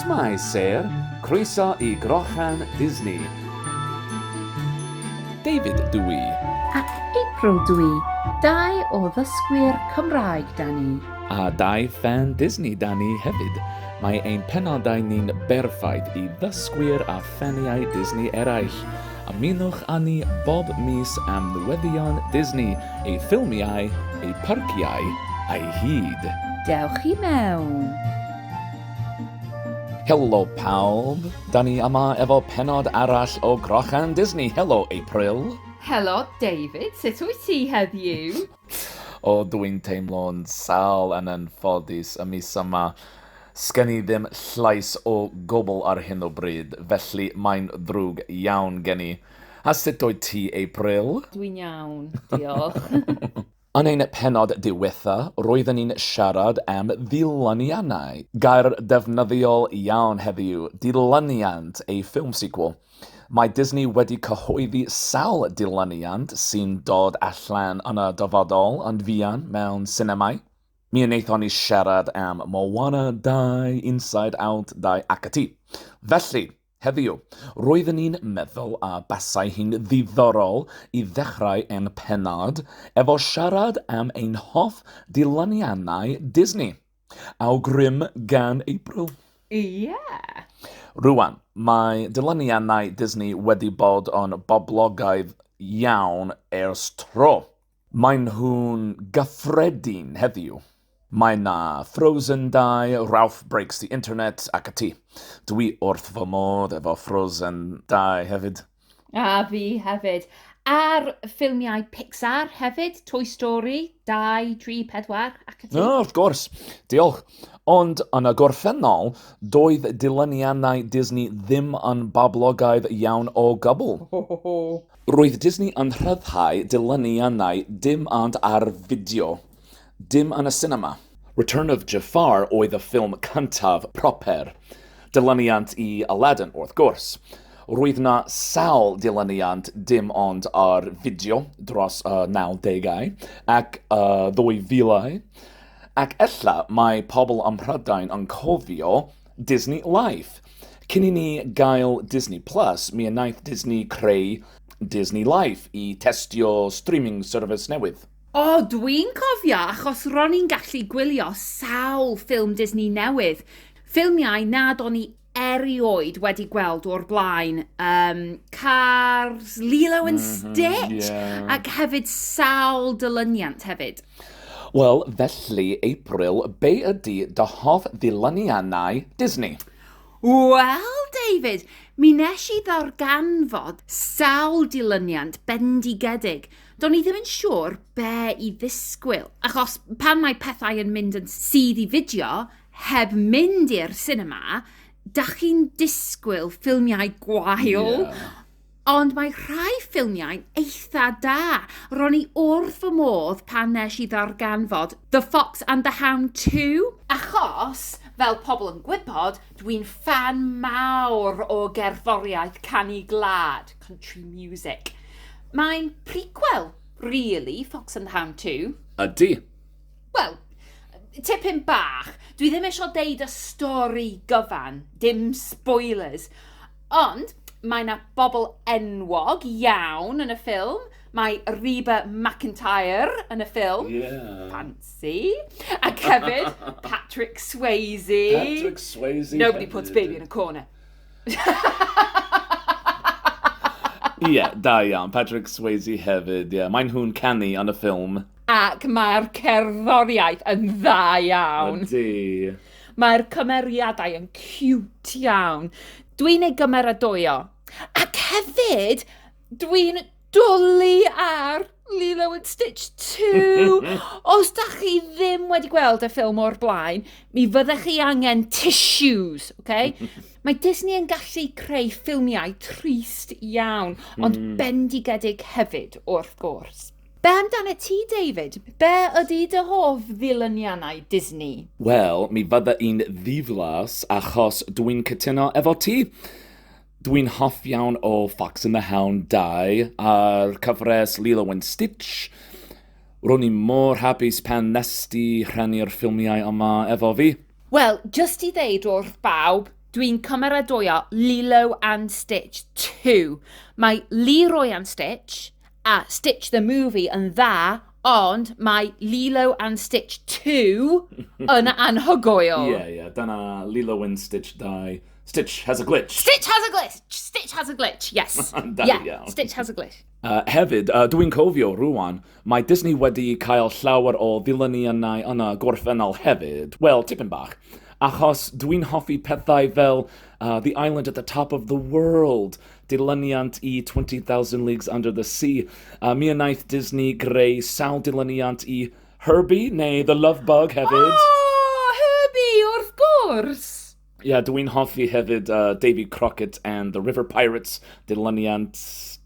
Shwmae Sêr, croeso i Grochan Disney. David dw i. Ac April dw i, dau o ddysgwyr Cymraeg 'da ni. A dau ffan Disney 'da ni hefyd. Mae ein penodau ni'n berffaith i ddysgwyr a ffaniau Disney eraill. Ymunwch â ni bob mis am newyddion Disney, ei ffilmiau, ei pharciau a'i hyd. Dewch i mewn! Helo pawb! Da ni yma efo pennod arall o Grochan Disney. Helo April! Helo David, sut wyt ti heddiw? O dw i'n teimlo'n sâl yn anffodus y mis yma. Sgen i ddim llais o gwbl ar hyn o bryd, felly mae'n ddrwg iawn gen i. A sut wyt ti, April? Dw i'n iawn, diolch. Yn ein pennod diwetha, roedden ni'n siarad am ddilyniannau. Gair defnyddiol iawn heddiw, dilyniant, a film sequel. Mae Disney wedi cyhoeddi sawl dilyniant sy'n dod allan yn y dyfodol yn fuan mewn sinemâu. Mi wnaethon ni siarad am Moana 2, Inside Out 2 ac ati. Felly, heddiw, roeddwn i'n meddwl a basai hi'n ddiddorol i ddechrau ein pennod efo siarad am ein hoff dilyniannau Disney. Aw grym gan April. Ie! Rwan, mae dyluniannau Disney wedi bod yn boblogaidd iawn ers tro. Maen nhw'n gyffredin heddiw. Mae 'na Frozen 2, Ralph Breaks the Internet ac ati. Dwi wrth fy modd efo Frozen 2 hefyd. A fi hefyd. A'r ffilmiau Pixar hefyd, Toy Story, 2, 3, 4, ac y ti. No, wrth gwrs. Diolch. Ond yn y gorffennol, doedd dilyniannau Disney ddim yn boblogaidd iawn o gwbl. Ho, ho, ho. Roedd Disney yn rhyddhau dilyniannau dim ond ar fideo. Dim yn y sinema. Return of Jafar oedd y ffilm cyntaf proper. Dilyniant i Aladdin, wrth gwrs. Roedd 'na sawl dilyniant dim ond ar fideo dros y 90au ac y 2000au. Ac ella mae pobl ym Mhrydain yn cofio Disney Life. Cyn i ni gael Disney Plus, mi wnaeth Disney creu Disney Life i testio streaming service newydd. O, dwi'n cofio, achos ro'n i'n gallu gwylio sawl ffilm Disney newydd. Ffilmiau nad o'n i erioed wedi gweld o'r blaen. Um, Cars, Lilo and mhm, Stitch, mm -hmm, yeah. ac hefyd sawl dylyniant hefyd. Wel, felly, April, be ydy dy hoff ddilyniannau Disney? Wel, David, mi nes i ddarganfod sawl dilyniant bendigedig – Do'n i ddim yn siŵr be i ddisgwyl, achos pan mae pethau yn mynd yn sydd i fideo heb mynd i'r cinema, da chi'n disgwyl ffilmiau gwael, yeah. ond mae rhai ffilmiau'n eitha da. Ro'n i wrth fy modd pan nes i ddarganfod The Fox and the Hound 2, achos, fel pobl yn gwybod, dwi'n fan mawr o gerddoriaeth canu glad. Country music. Mae'n prequel, really, Fox and the Hound 2. Ydy. Wel, tipyn bach. Dwi ddim eisiau deud y stori gyfan, dim spoilers. Ond mae yna bobl enwog iawn yn y ffilm. Mae Reba McIntyre yn y ffilm. Yeah. Fancy. A hefyd Patrick Swayze. Patrick Swayze. Nobody puts baby in a corner. Ie, yeah, da iawn. Patrick Swayze hefyd, ie. Yeah. Maen nhw'n canu yn y ffilm. Ac mae'r cerddoriaeth yn dda iawn. Ydy. Mae'r cymeriadau yn cwt iawn. Dwi'n ei gymeradwyo. Ac hefyd, dwi'n Dwli ar Lilo and Stitch 2! Os da chi ddim wedi gweld y ffilm o'r blaen, mi fyddech chi angen tissues, oce? Okay? Mae Disney yn gallu creu ffilmiau trist iawn, ond mm. bendigedig hefyd, wrth gwrs. Be amdano ti, David? Be ydy dy hoff ddilyniannau Disney? Wel, mi fydda i'n ddiflas achos dwi'n cytuno efo ti. Dwi'n hoff iawn o Fox and the Hound 2 a'r cyfres Lilo and Stitch. Ro'n i mor hapus pan nesti rhannu'r ffilmiau yma efo fi. Wel, jyst i ddeud wrth bawb, dwi'n cymeradwyo Lilo and Stitch 2. Mae Leroy and Stitch A Stitch the Movie yn dda, ond mae Lilo and Stitch 2 yn anhygoel. Ie, ie, dyna Lilo and Stitch 2. Stitch has a glitch. Stitch has a glitch! Stitch has a glitch, yes. da yeah, iawn. Stitch has a glitch. Uh, hefyd, uh, dwi'n cofio rwan, mae Disney wedi cael llawer o ddilyniannau yn y gorffennol hefyd. Wel, tipyn bach. Achos dwi'n hoffi pethau fel uh, The Island at the Top of the World, dilyniant i 20,000 Leagues Under the Sea, a mi wnaeth Disney greu sawl dilyniant i Herbie, neu The Love Bug hefyd. Oh, Herbie, wrth gwrs! Ie, yeah, dw i'n hoffi hefyd uh, Davy Crockett and the River Pirates, dilyniant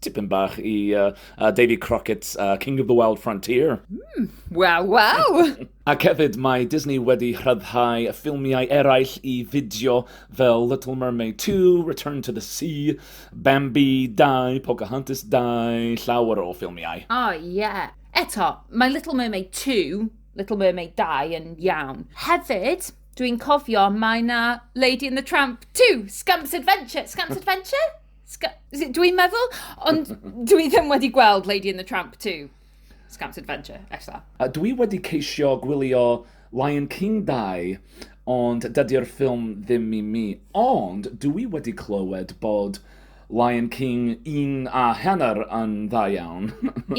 tipyn bach i uh, uh, Davy Crockett, uh, King of the Wild Frontier. Mm, wow, wow! Ac hefyd, mae Disney wedi rhyddhau ffilmiau eraill i fideo fel Little Mermaid 2, Return to the Sea, Bambi 2, Pocahontas 2, llawer o ffilmiau. O, oh, ie. Yeah. Eto, mae Little Mermaid 2, Little Mermaid 2 yn iawn. Hefyd, dwi'n cofio mae na Lady and the Tramp 2, Scamps Adventure. Scamps Adventure? Sc dwi'n meddwl, ond dwi ddim wedi gweld Lady and the Tramp 2. Scamp's Adventure, ella. A dwi wedi ceisio gwylio Lion King 2, ond dydy'r ffilm ddim i mi. Ond dwi wedi clywed bod Lion King 1 a hanner yn dda iawn.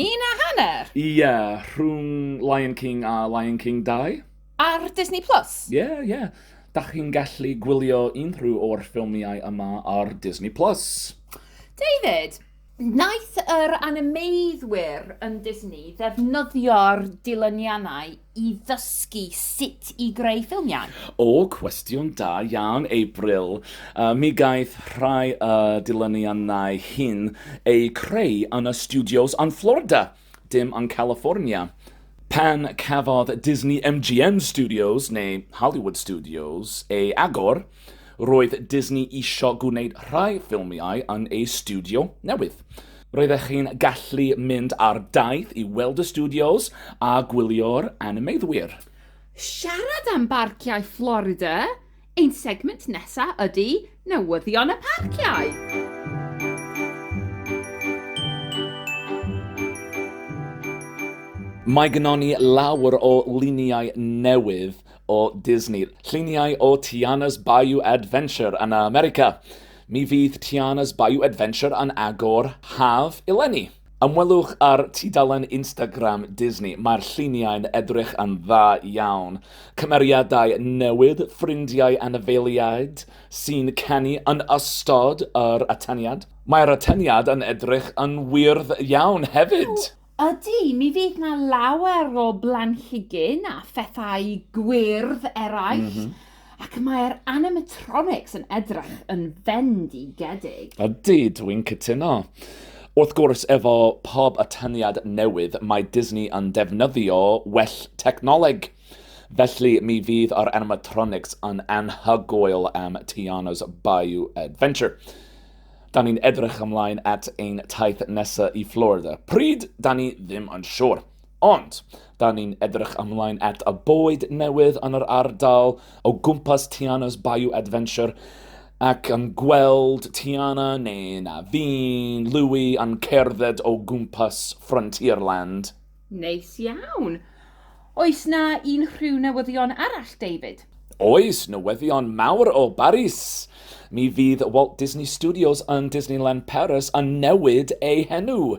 un a hanner? Ie, yeah, rhwng Lion King a Lion King 2. Ar Disney Plus? Ie, yeah, ie. Yeah. Da chi'n gallu gwylio unrhyw o'r ffilmiau yma ar Disney Plus. David, Wnaeth yr animeiddwyr yn Disney ddefnyddio'r dilyniannau i ddysgu sut i greu ffilmiau? O, cwestiwn da iawn, April. Mi gaeth rhai o'r dilyniannau hyn eu creu yn y stiwdios yn Florida. Dim ond California. Pan cafodd Disney MGM Studios, neu Hollywood Studios, ei agor, roedd Disney isio gwneud rhai ffilmiau yn ei stiwdio newydd. Roeddech chi'n gallu mynd ar daith i weld y stiwdios a gwylio'r animeiddwyr. Siarad am barciau Florida, Ein segment nesa ydi newyddion y parciau! Mae gynnon ni lawer o luniau newydd o Disney. Lluniau o Tiana's Bayou Adventure yn America. Mi fydd Tiana's Bayou Adventure yn agor haf eleni. Ymwelwch â'r tudalen Instagram Disney, mae'r lluniau'n edrych yn dda iawn. Cymeriadau newydd, ffrindiau anifeiliaid sy'n canu yn ystod yr atyniad. Mae'r atyniad yn edrych yn wyrdd iawn hefyd! O, ydy, mi fydd 'na lawer o blanhigyn a phethau gwyrdd eraill. ac mae'r animatronics yn edrych yn fendigedig. Ydy, dwi'n cytuno. Wrth gwrs, efo pob atyniad newydd, mae Disney yn defnyddio well technoleg. Felly, mi fydd yr animatronics yn anhygoel am Tiana's Bayou Adventure. Da ni'n edrych ymlaen at ein taith nesaf i Florida. Pryd? Da ni ddim yn siŵr. Ond, da ni'n edrych ymlaen at y bywyd newydd yn yr ardal o gwmpas Tiana's Bayou Adventure ac yn gweld Tiana neu na fi'n Louie yn cerdded o gwmpas Frontierland. Neis iawn. Oes na unrhyw newyddion arall, David? Oes, newyddion mawr o Baris! Mi fydd Walt Disney Studios yn Disneyland Paris yn newid ei henw.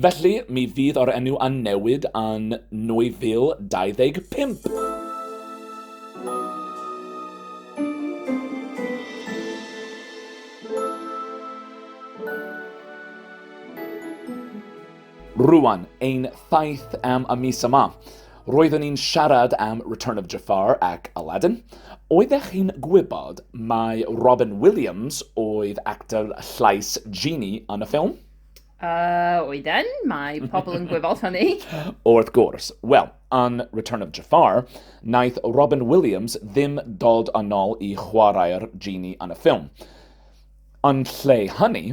Felly, mi fydd o'r enw yn newid yn 2025. Rwan, ein thaith am y mis yma. Roeddwn ni'n siarad am Return of Jafar ac Aladdin. Oeddech chi'n gwybod mae Robin Williams oedd actor llais Genie yn y ffilm? Uh, oedden, mae pobl yn gwybod hynny. Wrth gwrs. Wel, yn Return of Jafar, naeth Robin Williams ddim dod yn ôl i chwarae'r genie yn y ffilm. Yn lle hynny,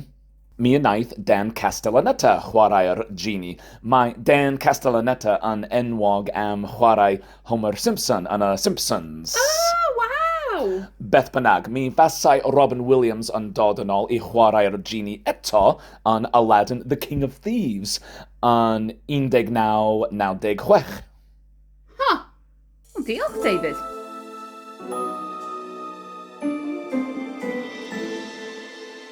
mi wnaeth Dan Castellaneta chwarae'r genie. Mae Dan Castellaneta yn enwog am chwarae Homer Simpson yn y Simpsons. Oh, waw! Beth bynnag, mi fasai Robin Williams yn dod yn ôl i chwarae'r genie eto yn Aladdin The King of Thieves yn 1996. Ha! Huh. Well, diolch, David.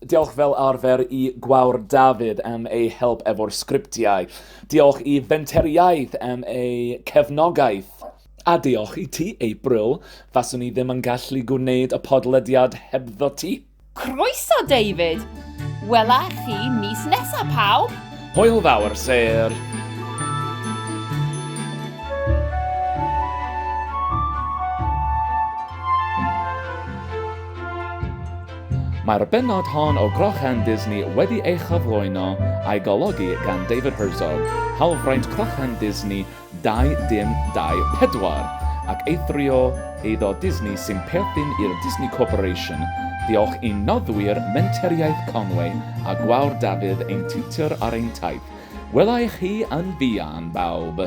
Diolch fel arfer i Gwawr David am ei help efo'r sgriptiau. Diolch i Fenteriaeth am ei cefnogaeth. A diolch i ti, April. Faswn i ddim yn gallu gwneud y podlediad hebddo ti. Croeso, David! Wela i chi mis nesa, pawb! Hwyl fawr, Syr! Mae'r bennod hon o Grochan Disney wedi ei chyflwyno a'i golygu gan David Herzog, hawlfraint Crochan Disney 2024, ac eithrio eiddo Disney sy'n perthyn i'r Disney Corporation, diolch i noddwyr Menteriaeth Conwy a Gwawr Dafydd ein tiwtor ar ein taith. Wela i chi yn fuan, bawb!